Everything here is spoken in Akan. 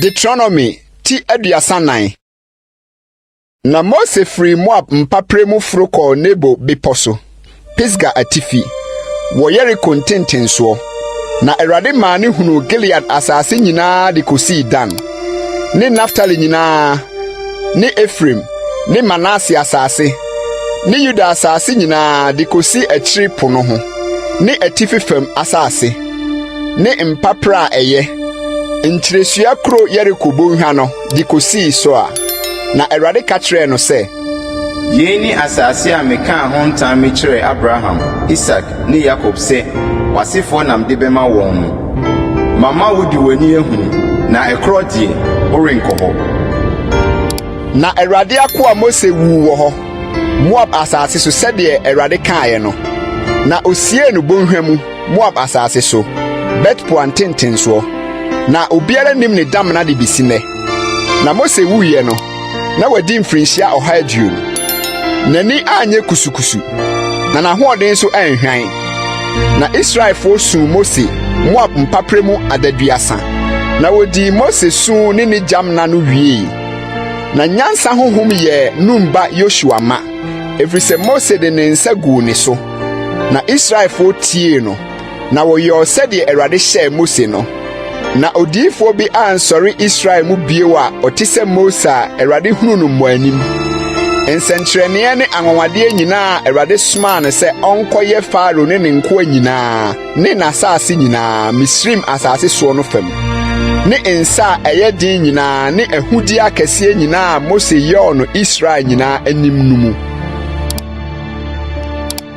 Deuteronomy ti aduasa nan. Na Mose firii Moab mpaperɛ mu foro kɔɔ Nebo bepɔ so, Pisga atifi, wɔ Yeriko ntentensoɔ. Na Awurade maa ne hunuu Gilead asase nyinaa de kɔsii Dan. ne Naftali nyinaa ne Efraim ne Manase asase ne Yuda asase nyinaa de kosi akyiri po no ho ne atifi fam asase ne mpapra a ɛyɛ nkyiresua kuro Yeriko bɔnhwa no de kosii Soar. Na Awurade ka kyerɛɛ no sɛ, Yei ne asase a mekaa ho ntam mekyerɛɛ Abraham, Isak, ne Yakob sɛ w'asefoɔ na mede bɛma wɔn no. Mama wode w'ani ahunu, na ɛkorɔ deɛ, worenkɔ hɔ. Na Awurade akoa Mose wuu wɔ hɔ, Moab asase so, sɛdeɛ Awurade kaeɛ no. Na ɔsiee no bɔnhwa mu, Moab asase so, Bet-Peor ntentensoɔ. Na obiara nnim ne damena de bɛsi nnɛ. Na Mose wuiɛ no, na wadi mfirinhyia ɔha aduonu. N'ani anyɛ kusukusu, na n'ahoɔden nso anhwan. Na Israelfoɔ suu Mose Moab mpapere mu adaduasa, na wɔdii Mose su ne ne gyam nna no wiei. Na nyansa honhom yɛɛ Nun ba Yosua ma, ɛfiri sɛ Mose de ne nsa guu ne so, na Israelfoɔ tiee no. na wɔyɔɔ sɛdeɛ Awurade hyɛɛ Mose no. Na odiyifoɔ bi ansɔre Israel mu bio a ɔte sɛ Mose a Awurade hunu no mmɔanim. Nsɛnkyerɛnneɛ ne anwanwadeɛ nyinaa a Awurade somaa no sɛ ɔnkɔyɛ Farao ne ne nkoa nyinaa ne n'asase nyinaa, Misraim asase soɔ no fam, ne nsa a ɛyɛ den nyinaa ne ahudeɛ akɛseɛ nyinaa a Mose yɔɔ no Israel nyinaa anim no mu.